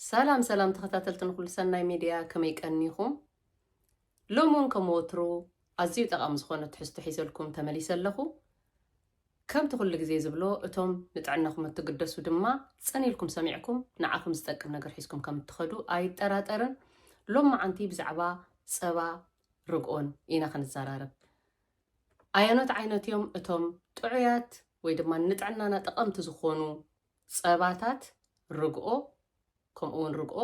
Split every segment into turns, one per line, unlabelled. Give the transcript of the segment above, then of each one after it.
ሰላም ሰላም ተኸታተልቲ ንኩሉ ሰናይ ሚድያ ከመይ ቀኒኹም? ሎሚ ውን ከም ወትሩ ኣዝዩ ጠቓሚ ዝኾነ ትሕዝቶ ሒዘልኩም ተመሊሰ ኣለኹ። ከምቲ ኩሉ ግዜ ዝብሎ እቶም ንጥዕናኹም እትግደሱ ድማ ጽን ኢልኩም ሰሚዕኩም ንዓኹም ዝጠቅም ነገር ሒዝኩም ከም እትኸዱ ኣይጠራጠርን። ሎማዓንቲ ብዛዕባ ጸባ ርግኦን ኢና ክንዘራረብ። ኣየኖት ዓይነት እዮም እቶም ጥዑያት ወይ ድማ ንጥዕናና ጠቐምቲ ዝኾኑ ጸባታት ርግኦ ከምኡ ውን ርግኦ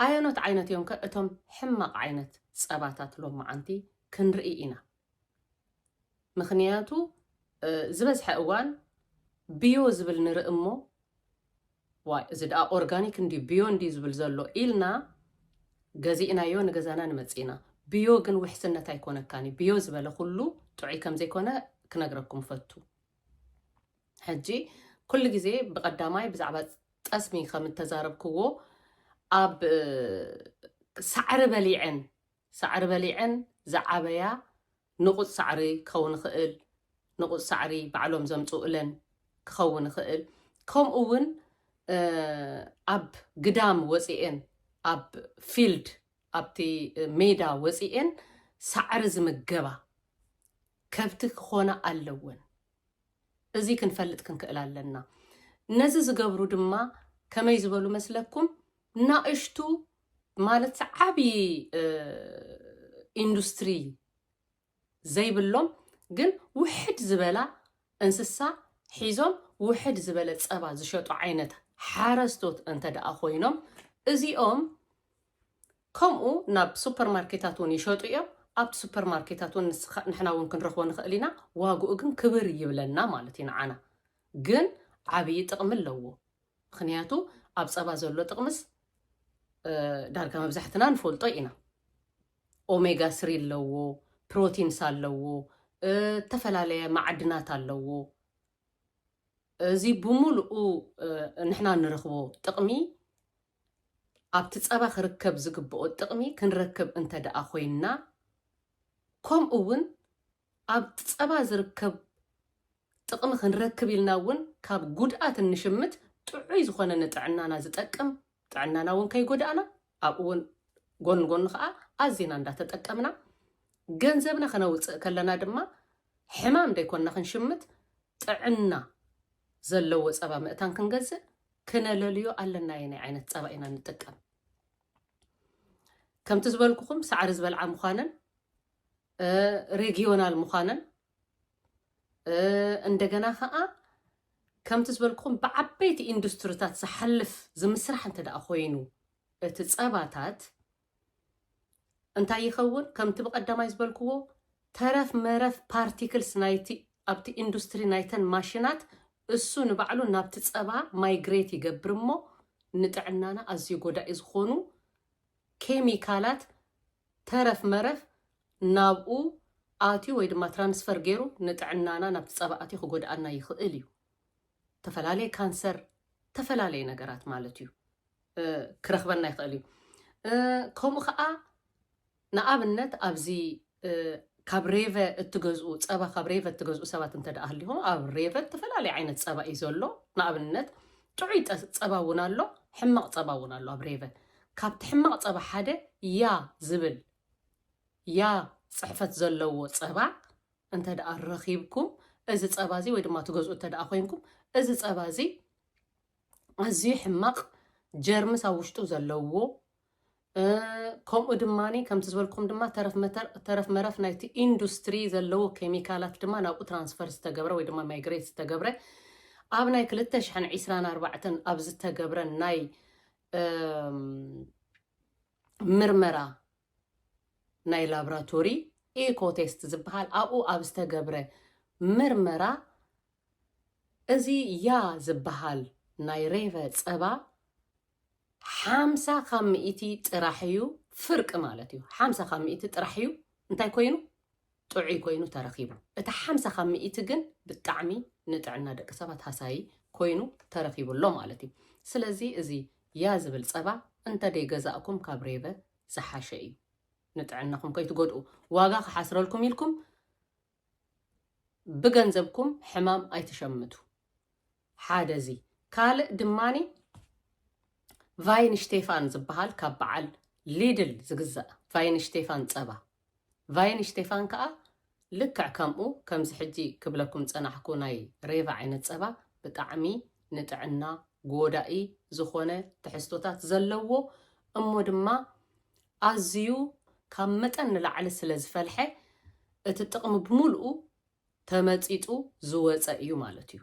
ኣየኖት ዓይነት እዮም ከ እቶም ሕማቕ ዓይነት ጸባታት ሎማዓንቲ ክንርኢ ኢና ምኽንያቱ ዝበዝሐ እዋን ብዮ ዝብል ንርኢ እሞ ዋይ እዚ ደኣ ኦርጋኒክ እንዲ ብዮ እንዲ ዝብል ዘሎ ኢልና ገዚእናዮ ንገዛና ንመጽእ ኢና ብዮ ግን ውሕስነት ኣይኮነካን እዩ ብዮ ዝበለ ኩሉ ጥዑይ ከም ዘይኮነ ክነግረኩም ፈቱ ሕጂ ኩሉ ግዜ ብቀዳማይ ብዛዕባ ጠስሚ ከም እተዛረብክዎ ኣብ ሳዕሪ በሊዐን ሳዕሪ በሊዐን ዝዓበያ ንቑጽ ሳዕሪ ክኸውን ይኽእል ንቑጽ ሳዕሪ ባዕሎም ዘምጽኡለን ክኸውን ይኽእል ከምኡ እውን ኣብ ግዳም ወጺኤን ኣብ ፊልድ ኣብቲ ሜዳ ወጺኤን ሳዕሪ ዝምገባ ከብቲ ክኾና ኣለወን እዚ ክንፈልጥ ክንክእል ኣለና። ነዚ ዝገብሩ ድማ ከመይ ዝበሉ መስለኩም ናእሽቱ ማለት ዓብዪ ኢንዱስትሪ ዘይብሎም ግን ውሕድ ዝበላ እንስሳ ሒዞም ውሕድ ዝበለ ፀባ ዝሸጡ ዓይነት ሓረስቶት እንተ ደኣ ኮይኖም እዚኦም ከምኡ ናብ ሱፐር ማርኬታት እውን ይሸጡ እዮም ኣብቲ ሱፐር ማርኬታት እውን ንስኻ ንሕና እውን ክንረኽቦ ንኽእል ኢና ዋግኡ ግን ክብር ይብለና ማለት እዩ ንዓና ግን ዓብዪ ጥቕሚ ኣለዎ ምኽንያቱ ኣብ ፀባ ዘሎ ጥቕምስ ዳርጋ መብዛሕትና ንፈልጦ ኢና ኦሜጋ ስሪ ኣለዎ ፕሮቲንስ ኣለዎ እተፈላለየ ማዕድናት ኣለዎ እዚ ብምሉኡ ንሕና ንረኽቦ ጥቕሚ ኣብቲ ጸባ ክርከብ ዝግብኦ ጥቕሚ ክንረክብ እንተድኣ ኮይንና ከምኡ እውን ኣብቲ ጸባ ዝርከብ ጥቕሚ ክንረክብ ኢልና እውን ካብ ጉድኣት እንሽምት ጥዑይ ዝኾነ ንጥዕናና ዝጠቅም ጥዕናና እውን ከይጎዳእና ኣብኡ እውን ጎን ጎኑ ከዓ ኣዚና እንዳተጠቀምና ገንዘብና ክነውፅእ ከለና ድማ ሕማም ደይኮንና ክንሽምት ጥዕና ዘለዎ ፀባ ምእታን ክንገዝእ ክነለልዮ ኣለና የናይ ዓይነት ጸባ ኢና ንጥቀም ከምቲ ዝበልኩኹም ሳዕሪ ዝበልዓ ምዃነን ሬጊዮናል ምዃነን እንደገና ከዓ ከምቲ ዝበልኩኹም ብዓበይቲ ኢንዱስትሪታት ዝሓልፍ ዝምስራሕ እንተ ደኣ ኮይኑ እቲ ጸባታት እንታይ ይኸውን? ከምቲ ብቐዳማይ ዝበልክዎ ተረፍ መረፍ ፓርቲክልስ ናይቲ ኣብቲ ኢንዱስትሪ ናይተን ማሽናት እሱ ንባዕሉ ናብቲ ፀባ ማይግሬት ይገብር እሞ ንጥዕናና ኣዝዩ ጎዳኢ ዝኾኑ ኬሚካላት ተረፍ መረፍ ናብኡ ኣትዩ ወይ ድማ ትራንስፈር ገይሩ ንጥዕናና ናብቲ ፀባ ኣትዩ ክጎድኣና ይኽእል እዩ። ተፈላለየ ካንሰር፣ ተፈላለየ ነገራት ማለት እዩ። ክረኽበና ይኽእል እዩ። ከምኡ ከዓ ንኣብነት ኣብዚ ካብ ሬቨ እትገዝኡ ፀባ ካብ ሬቨ እትገዝኡ ሰባት እንተ ደኣ ሃሊኹም ኣብ ሬቨ ዝተፈላለየ ዓይነት ፀባ እዩ ዘሎ። ንኣብነት ጥዑይ ፀባ እውን ኣሎ፣ ሕማቕ ፀባ እውን ኣሎ። ኣብ ሬቨ ካብቲ ሕማቕ ፀባ ሓደ ያ ዝብል ያ ፅሕፈት ዘለዎ ፀባ እንተ ደኣ ረኺብኩም እዚ ፀባ እዚ ወይ ድማ ትገዝኡ እንተ ደኣ ኮይንኩም እዚ ፀባ እዚ ኣዝዩ ሕማቕ ጀርምስ ኣብ ውሽጡ ዘለዎ ከምኡ ድማ ከምቲ ዝበልኩም ድማ ተረፍ መረፍ ናይቲ ኢንዱስትሪ ዘለዎ ኬሚካላት ድማ ናብኡ ትራንስፈር ዝተገብረ ወይ ድማ ማይግሬት ዝተገብረ ኣብ ናይ 224 ኣብ ዝተገብረ ናይ ምርመራ ናይ ላብራቶሪ ኢኮቴስት ዝበሃል ኣብኡ ኣብ ዝተገብረ ምርመራ እዚ ያ ዝባሃል ናይ ሬቨ ጸባ ሓምሳ ካብ ሚእቲ ጥራሕ እዩ ፍርቂ ማለት እዩ ሓምሳ ካብ ሚእቲ ጥራሕ እዩ እንታይ ኮይኑ ጥዑይ ኮይኑ ተረኺቡ እቲ ሓምሳ ካብ ሚእቲ ግን ብጣዕሚ ንጥዕና ደቂ ሰባት ሃሳዪ ኮይኑ ተረኺቡ ኣሎ ማለት እዩ ስለዚ እዚ ያ ዝብል ጸባ እንተ ገዛእኩም ካብ ሬቨ ዝሓሸ እዩ ንጥዕናኹም ከይትጎድኡ ዋጋ ክሓስረልኩም ኢልኩም ብገንዘብኩም ሕማም ኣይትሸምቱ ሓደ እዚ ካልእ ድማኒ ቫይን ሽቴፋን ዝበሃል ካብ በዓል ሊድል ዝግዛእ ቫይን ሽቴፋን ፀባ ቫይን ሽቴፋን ከዓ ልክዕ ከምኡ ከምዚ ሕጂ ክብለኩም ፀናሕኩ ናይ ሬቫ ዓይነት ፀባ ብጣዕሚ ንጥዕና ጎዳኢ ዝኾነ ትሕዝቶታት ዘለዎ እሞ ድማ ኣዝዩ ካብ መጠን ንላዕሊ ስለ ዝፈልሐ እቲ ጥቕሚ ብምልኡ ተመጺጡ ዝወጸ እዩ ማለት እዩ።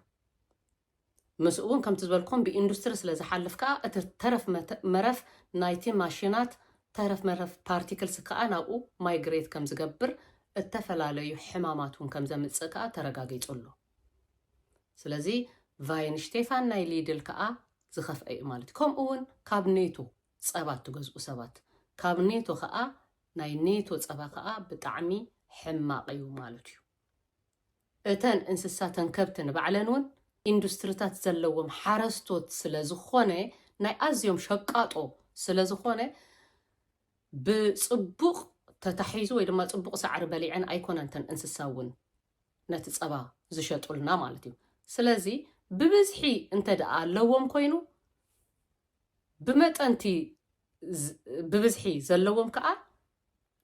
ምስኡ እውን ከምቲ ዝበልኩም ብኢንዱስትሪ ስለ ዝሓልፍ ከኣ እቲ ተረፍ መረፍ ናይቲ ማሽናት ተረፍ መረፍ ፓርቲክልስ ከኣ ናብኡ ማይግሬት ከም ዝገብር እተፈላለዩ ሕማማት እውን ከም ዘምጽእ ከኣ ተረጋጊጹ ኣሎ። ስለዚ ቫይንሽቴፋን ናይ ሊድል ከኣ ዝኸፍአ እዩ ማለት እዩ። ከምኡ እውን ካብ ኔቱ ጸባ እትገዝኡ ሰባት ካብ ኔቶ ከኣ ናይ ኔቶ ጸባ ከኣ ብጣዕሚ ሕማቅ እዩ ማለት እዩ እተን እንስሳ ተን ከብቲ ንባዕለን ውን ኢንዱስትሪታት ዘለዎም ሓረስቶት ስለ ዝኾነ ናይ ኣዝዮም ሸቃጦ ስለ ዝኾነ ብጽቡቅ ተታሒዙ ወይ ድማ ጽቡቅ ሳዕሪ በሊዐን ኣይኮነን ተን እንስሳ ውን ነቲ ጸባ ዝሸጡልና ማለት እዩ ስለዚ ብብዝሒ እንተ ደኣ ኣለዎም ኮይኑ ብመጠን'ቲ ብብዝሒ ዘለዎም ከኣ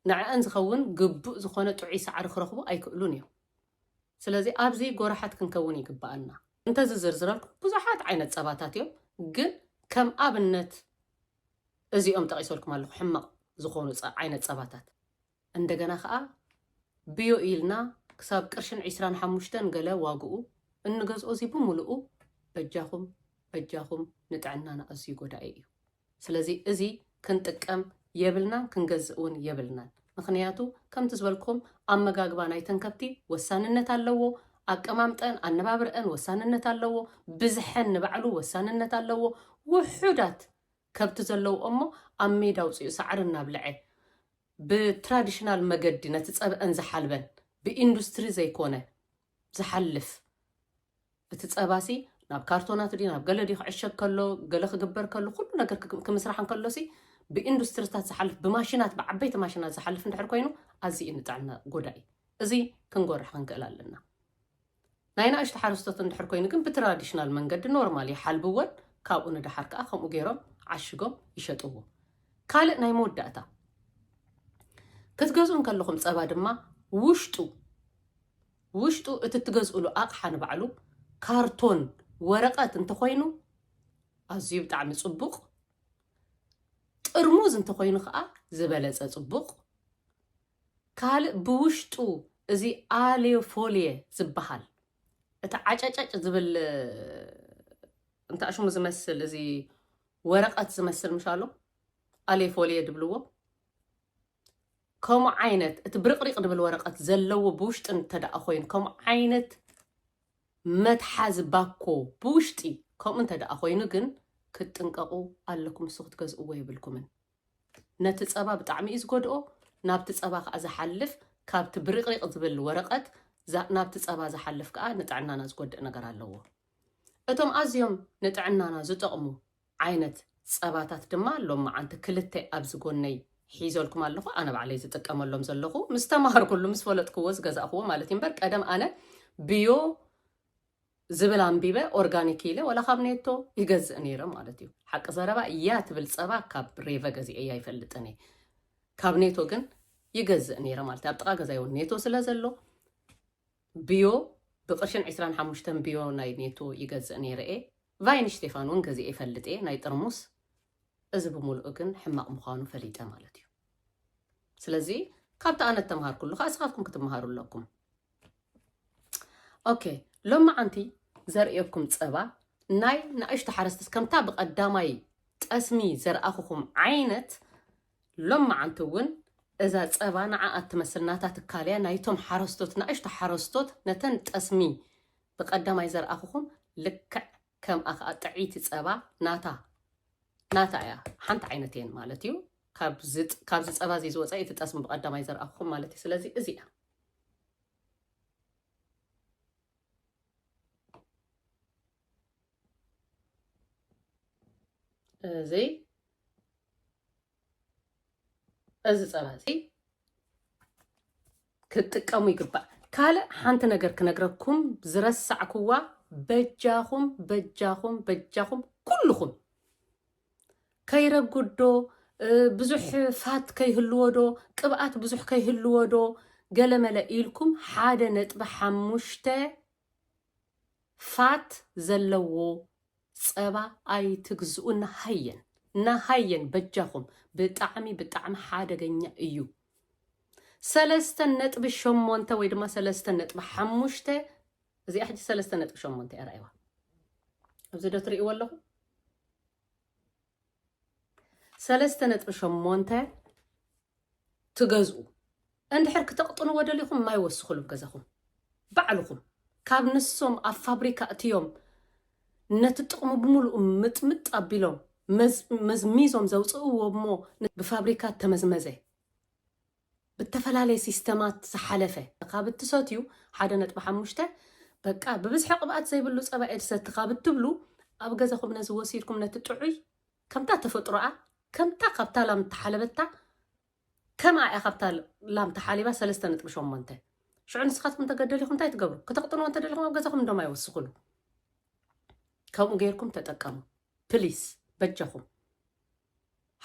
ንዐኣን ዝኸውን ግቡእ ዝኾነ ጥዑይ ሳዕሪ ክረኽቡ ኣይክእሉን እዮም። ስለዚ ኣብዚ ጎራሓት ክንከውን ይግበኣና። እንተዝዝርዝረልኩም ብዙሓት ዓይነት ጸባታት እዮም፣ ግን ከም ኣብነት እዚኦም ጠቒሰልኩም ኣለኹ ሕማቕ ዝኾኑ ዓይነት ጸባታት። እንደገና ከኣ ብዮ ኢልና ክሳብ ቅርሽን ዒስራን ሓሙሽተን ገለ ዋግኡ እንገዝኦ እዚ ብምልኡ በጃኹም በጃኹም ንጥዕናና ኣዝዩ ጎዳኢ እዩ። ስለዚ እዚ ክንጥቀም የብልናን ክንገዝእ እውን የብልናን። ምኽንያቱ ከምቲ ዝበልኩም ኣመጋግባ ናይተን ከብቲ ወሳንነት ኣለዎ፣ ኣቀማምጠን ኣነባብርኣን ወሳንነት ኣለዎ፣ ብዝሐን ንባዕሉ ወሳንነት ኣለዎ፣ ውሑዳት ከብቲ ዘለዎ እሞ ኣብ ሜዳ ኣውጺኡ ሳዕሪ እናብልዐ ብትራዲሽናል መገዲ ነቲ ጸብዐን ዝሓልበን ብኢንዱስትሪ ዘይኮነ ዝሓልፍ እቲ ጸባሲ ናብ ካርቶናት ድዩ ናብ ገለ ድዩ ክዕሸግ ከሎ ገለ ክግበር ከሎ ኩሉ ነገር ክምስራሕ እንከሎሲ ብኢንዱስትሪታት ዝሓልፍ ብማሽናት ብዓበይቲ ማሽናት ዝሓልፍ እንድሕር ኮይኑ ኣዝዩ ንጥዕና ጎዳኢ እዚ ክንጎርሕ ክንክእል ኣለና ናይ ናእሽቱ ሓረስቶት እንድሕር ኮይኑ ግን ብትራዲሽናል መንገዲ ኖርማል ይሓልብወን ካብኡ ንደሓር ከኣ ከምኡ ገይሮም ዓሽጎም ይሸጥዎ። ካልእ ናይ መወዳእታ ክትገዝኡ እንከለኹም ጸባ ድማ ውሽጡ ውሽጡ እቲ እትገዝእሉ ኣቕሓ ንባዕሉ ካርቶን ወረቐት እንተኾይኑ ኣዝዩ ብጣዕሚ ጽቡቕ ጥርሙዝ እንተኾይኑ ከዓ ዝበለፀ ጽቡቕ ካልእ ብውሽጡ እዚ ኣልዮ ፎልየ ዝበሃል እቲ ዓጨጨጭ ዝብል እንታይ ሽሙ ዝመስል እዚ ወረቐት ዝመስል ምሽ ኣሎ ኣልዮ ፎልየ ድብልዎ ከምኡ ዓይነት እቲ ብርቕሪቕ ድብል ወረቐት ዘለዎ ብውሽጢ እንተደኣ ኮይኑ ከምኡ ዓይነት መትሓዚ ባኮ ብውሽጢ ከምኡ እንተደኣ ኮይኑ ግን ክትጥንቀቑ ኣለኩም ንሱ ክትገዝእዎ የብልኩምን ነቲ ጸባ ብጣዕሚ እዩ ዝጎድኦ ናብቲ ጸባ ከኣ ዝሓልፍ ካብቲ ብሪቅሪቅ ዝብል ወረቀት ናብቲ ጸባ ዝሓልፍ ከኣ ንጥዕናና ዝጎድእ ነገር ኣለዎ እቶም ኣዝዮም ንጥዕናና ዝጠቅሙ ዓይነት ጸባታት ድማ ሎማዓንቲ ክልተ ኣብዚ ጎነይ ሒዘልኩም ኣለኹ ኣነ ባዕለይ ዝጥቀመሎም ዘለኹ ምስ ተማሃርኩሉ ምስ ፈለጥክዎ ዝገዛእክዎ ማለት እዩ እምበር ቀደም ኣነ ብዮ ዝብል ኣንቢበ ኦርጋኒክ ኢለ ዋላ ካብ ኔቶ ይገዝእ ነይረ ማለት እዩ ሓቂ ዘረባ እያ ትብል ፀባ ካብ ሬቨ ገዚኤያ ኣይፈልጥን እየ ካብ ኔቶ ግን ይገዝእ ነይረ ማለት ኣብ ጥቃ ገዛይ እውን ኔቶ ስለ ዘሎ ብዮ ብቅርሽን 25 ብዮ ናይ ኔቶ ይገዝእ ነይረ እየ ቫይን ሽቴፋን እውን ገዚኤ ይፈልጥ እየ ናይ ጥርሙስ እዚ ብምልኡ ግን ሕማቕ ምዃኑ ፈሊጠ ማለት እዩ ስለዚ ካብቲ ኣነ ተምሃርኩሉ ከዓ ስኻትኩም ክትምሃሩ ኣለኩም ኦኬ ሎማዓንቲ ዘርእየኩም ፀባ ናይ ንእሽቶ ሓረስቶት ከምታ ብቀዳማይ ጠስሚ ዘርኣኹኹም ዓይነት ሎማዓንቲ እውን እዛ ፀባ ንዓ እትመስል ናታ ትካል እያ ናይቶም ሓረስቶት ንእሽቶ ሓረስቶት ነተን ጠስሚ ብቀዳማይ ዘርኣኹኹም ልክዕ ከምኣ ከዓ ጥዒቲ ፀባ ናታ ናታ እያ ሓንቲ ዓይነት እየን ማለት እዩ ካብዚ ፀባ እዚ ዝወፀ እቲ ጠስሚ ብቀዳማይ ዘርኣኹኹም ማለት እዩ ስለዚ እዚ እያ እዚ እዚ ፀባ እዚ ክትጥቀሙ ይግባእ። ካልእ ሓንቲ ነገር ክነግረኩም ዝረሳዕኩዋ በጃኹም በጃኹም በጃኹም ኩልኹም ከይረጉድ ዶ ብዙሕ ፋት ከይህልዎ ዶ ቅብኣት ብዙሕ ከይህልዎ ዶ ገለመለ ኢልኩም ሓደ ነጥቢ ሓሙሽተ ፋት ዘለዎ ፀባ ኣይትግዝኡ ናሃየን ናሃየን በጃኹም ብጣዕሚ ብጣዕሚ ሓደገኛ እዩ። ሰለስተ ነጥቢ ሸሞንተ ወይ ድማ ሰለስተ ነጥቢ ሓሙሽተ እዚኣ ሕጂ ሰለስተ ነጥቢ ሸሞንተ እያ ርኣይዋ ኣብዚ ዶ ትርእይዎ ኣለኹ ሰለስተ ነጥቢ ሸሞንተ ትገዝኡ እንድሕር ክተቕጥንዎ ደሊኹም ማይ ወስኹሉ ገዛኹም ባዕልኹም ካብ ንሶም ኣብ ፋብሪካ እትዮም ነቲ ጥቕሙ ብምሉኡ ምጥምጥ ኣቢሎም መዝሚዞም ዘውፅእዎ እሞ ብፋብሪካ ተመዝመዘ ብተፈላለየ ሲስተማት ዝሓለፈ ካብ እትሰትዩ ሓደ ነጥቢ ሓሙሽተ በቃ ብብዝሒ ቅብኣት ዘይብሉ ጸባ እየ ዝሰቲ ካብ እትብሉ ኣብ ገዛኹም ነዚ ወሲድኩም ነቲ ጥዑይ ከምታ ተፈጥሮኣ ከምታ ካብታ ላም እተሓለበታ ከምኣ እያ ካብታ ላም ተሓሊባ ሰለስተ ነጥቢ ሸሞንተ ሽዑ ንስኻትኩም ተገደሊኹም እንታይ ትገብሩ ክተቕጥንዎ እንተደሊኹም ኣብ ገዛኹም እንዶም ኣይወስኽሉ ከምኡ ገይርኩም ተጠቀሙ ፕሊስ በጃኹም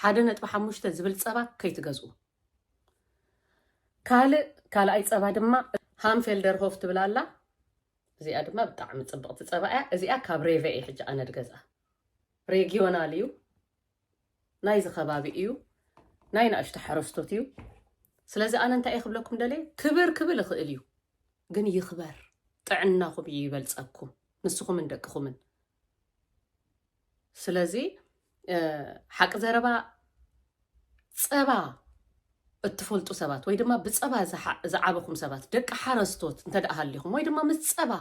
ሓደ ነጥቢ ሓሙሽተ ዝብል ጸባ ከይትገዝኡ። ካልእ ካልኣይ ጸባ ድማ ሃምፌልደርሆፍ ትብል ኣላ እዚኣ ድማ ብጣዕሚ ጽብቕቲ ጸባ እያ። እዚኣ ካብ ሬቨ እየ ሕጂ ኣነ ድገዝኣ። ሬጊዮናል እዩ፣ ናይዚ ከባቢ እዩ፣ ናይ ንኣሽቱ ሓረስቶት እዩ። ስለዚ ኣነ እንታይ እየ ክብለኩም ደልየ ክብር ክብል እኽእል እዩ፣ ግን ይኽበር ጥዕናኹም እዩ ይበልጸኩም ንስኹምን ደቅኹምን። ስለዚ ሓቂ ዘረባ ፀባ እትፈልጡ ሰባት ወይ ድማ ብፀባ ዝዓበኹም ሰባት ደቂ ሓረስቶት እንተ ደኣ ሃሊኹም ወይ ድማ ምስ ፀባ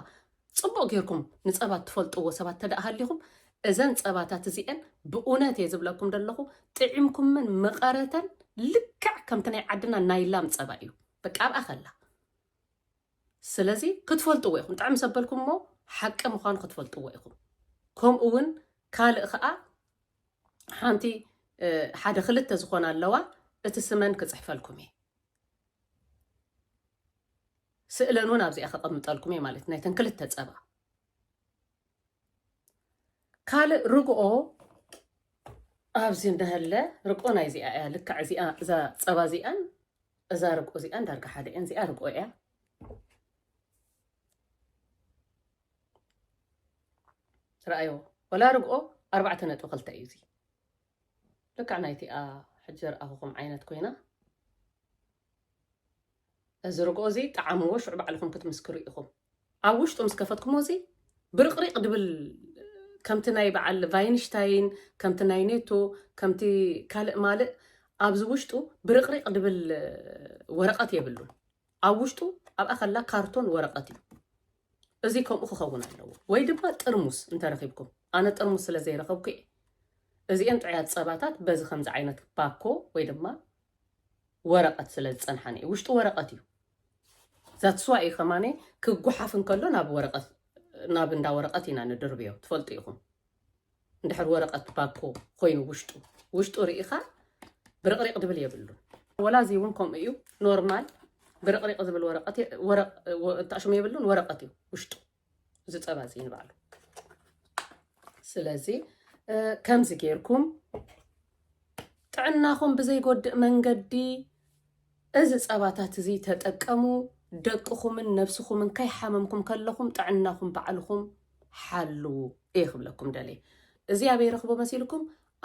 ፅቡቕ ጌርኩም ንፀባ እትፈልጥዎ ሰባት እንተ ደኣ ሃሊኹም እዘን ፀባታት እዚአን ብእውነት እየ ዝብለኩም ደለኹ ጥዒምኩምን መቐረተን ልክዕ ከምቲ ናይ ዓድና ናይ ላም ፀባ እዩ በቃ ኣብኣ ከላ ስለዚ ክትፈልጥዎ ኢኹም ጥዕም ሰበልኩም እሞ ሓቂ ምዃኑ ክትፈልጥዎ ኢኹም ከምኡ ውን ካልእ ኸኣ ሓንቲ ሓደ ክልተ ዝኾና ኣለዋ እቲ ስመን ክጽሕፈልኩም እየ ስእለን እውን ኣብዚኣ ከቐምጠልኩም እየ ማለት ናይተን ክልተ ጸባ ካልእ ርግኦ ኣብዚ እንዳሃለ ርቆ ናይ እዚኣ እያ ልክዕ እዚኣ እዛ ፀባ እዚኣን እዛ ርቆ እዚኣን ዳርጋ ሓደ እየን እዚኣ ርቆ እያ ረኣዮ ወላ ርግኦ ኣርባዕተ ነጥቢ ክልተ እዩ እዚ ልክዕ ናይቲኣ ሕጂ ርኣኹኹም ዓይነት ኮይና እዚ ርግኦ እዚ ጣዕምዎ ሽዑ ባዕልኹም ክትምስክሩ ኢኹም ኣብ ውሽጡ ምስ ከፈትኩሞ እዚ ብርቅሪቅ ድብል ከምቲ ናይ በዓል ቫይንሽታይን ከምቲ ናይ ኔቶ ከምቲ ካልእ ማልእ ኣብዚ ውሽጡ ብርቅሪቅ ድብል ወረቀት የብሉን ኣብ ውሽጡ ኣብኣ ከላ ካርቶን ወረቀት እዩ እዚ ከምኡ ክኸውን ኣለዎ ወይ ድማ ጥርሙስ እንተረኺብኩም ኣነ ጥርሙስ ስለ ዘይረኸብኩ እየ እዚኤን ጥዑያት ፀባታት በዚ ከምዚ ዓይነት ባኮ ወይ ድማ ወረቐት ስለ ዝፀንሓኒ እዩ ውሽጡ ወረቐት እዩ That's why እዩ ከማን ክጉሓፍ እንከሎ ናብ ወረቀት ናብ እንዳ ወረቀት ኢና ንድርብዮ ትፈልጡ ኢኹም እንድሕር ወረቀት ባኮ ኮይኑ ውሽጡ ውሽጡ ርኢኻ ብርቕሪቕ ድብል የብሉን ወላ እዚ እውን ከምኡ እዩ ኖርማል ብርቕሪቕ ዝብል ወረቀት ወረቅ እንታሽሙ የብሉን ወረቀት እዩ ውሽጡ እዚ ፀባ እዚ ንባዕሉ ስለዚ ከምዚ ጌርኩም ጥዕናኹም ብዘይጎድእ መንገዲ እዚ ፀባታት እዚ ተጠቀሙ ደቅኹምን ነብስኹምን ከይሓመምኩም ከለኹም ጥዕናኹም ባዕልኹም ሓልዉ እየ ክብለኩም ደልየ እዚ ኣብ የረኽቦ መሲልኩም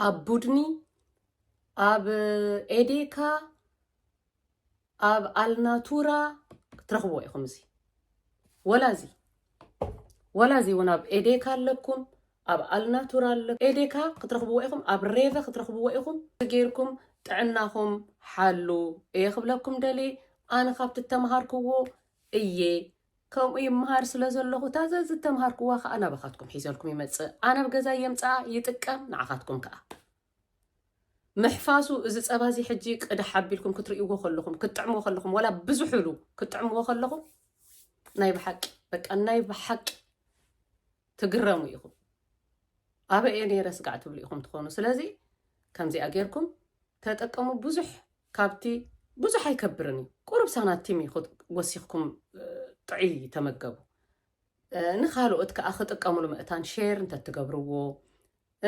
ኣብ ቡድኒ ኣብ ኤዴካ ኣብ ኣልናቱራ ክትረኽብዎ ኢኹም እዚ ወላ እዚ ወላ እዚ እውን ኣብ ኤዴካ ኣለኩም ኣብ ኣልናቱራ ኣለ ኤዴካ ክትረኽብዎ ኢኹም ኣብ ሬቨ ክትረኽብዎ ኢኹም ገይርኩም ጥዕናኹም ሓሉ እየ ክብለኩም ደልየ ኣነ ካብቲ እተምሃርክዎ እየ ከምኡ ይምሃር ስለ ዘለኹ እታ ዘዚ እተምሃርክዋ ከዓ ናባኻትኩም ሒዘልኩም ይመፅእ ኣነ ኣብ ገዛ የምፅኣ ይጥቀም ንዓኻትኩም ከዓ ምሕፋሱ እዚ ጸባ እዚ ሕጂ ቅዳሕ ኣቢልኩም ክትርእይዎ ከለኹም ክትጥዕምዎ ከለኹም ዋላ ብዙሕ ኢሉ ክትጥዕምዎ ከለኹም ናይ ብሓቂ በቃ ናይ ብሓቂ ትግረሙ ኢኹም ኣበይ እየ ነይረ ስጋዕ ትብሉ ኢኹም ትኾኑ ስለዚ ከምዚኣ ጌርኩም ተጠቀሙ ብዙሕ ካብቲ ብዙሕ ኣይከብርን እዩ ቁሩብ ሳናቲም እዩ ወሲኽኩም ጥዑይ ተመገቡ ንካልኦት ከኣ ክጥቀምሉ መእታን ሼር እንተትገብርዎ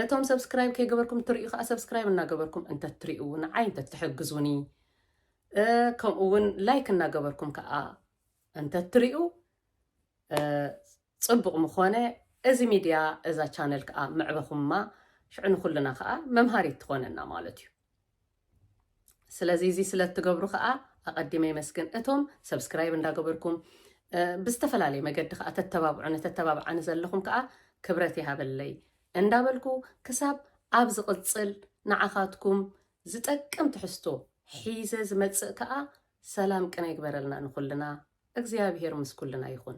እቶም ሰብስክራይብ ከይገበርኩም እትርእዩ ከኣ ሰብስክራይብ እናገበርኩም እንተትሪኡ ንዓይ እንተትሕግዙኒ ከምኡ እውን ላይክ እናገበርኩም ከኣ እንተትሪኡ ፅቡቕ ምኾነ እዚ ሚድያ እዛ ቻነል ከዓ ምዕበኹማ ሽዑ ንኩልና ከዓ መምሃሪት ትኾነና ማለት እዩ። ስለዚ እዚ ስለ እትገብሩ ከኣ ኣቐዲመ የመስግን። እቶም ሰብስክራይብ እንዳገበርኩም ብዝተፈላለየ መገዲ ከኣ ተተባብዑኒ ተተባብዓኒ ዘለኹም ከኣ ክብረት ይሃበለይ እንዳበልኩ ክሳብ ኣብ ዝቕጽል ንዓኻትኩም ዝጠቅም ትሕዝቶ ሒዘ ዝመጽእ ከኣ ሰላም ቅነ ይግበረልና ንኹልና እግዚኣብሄር ምስ ኩልና ይኹን።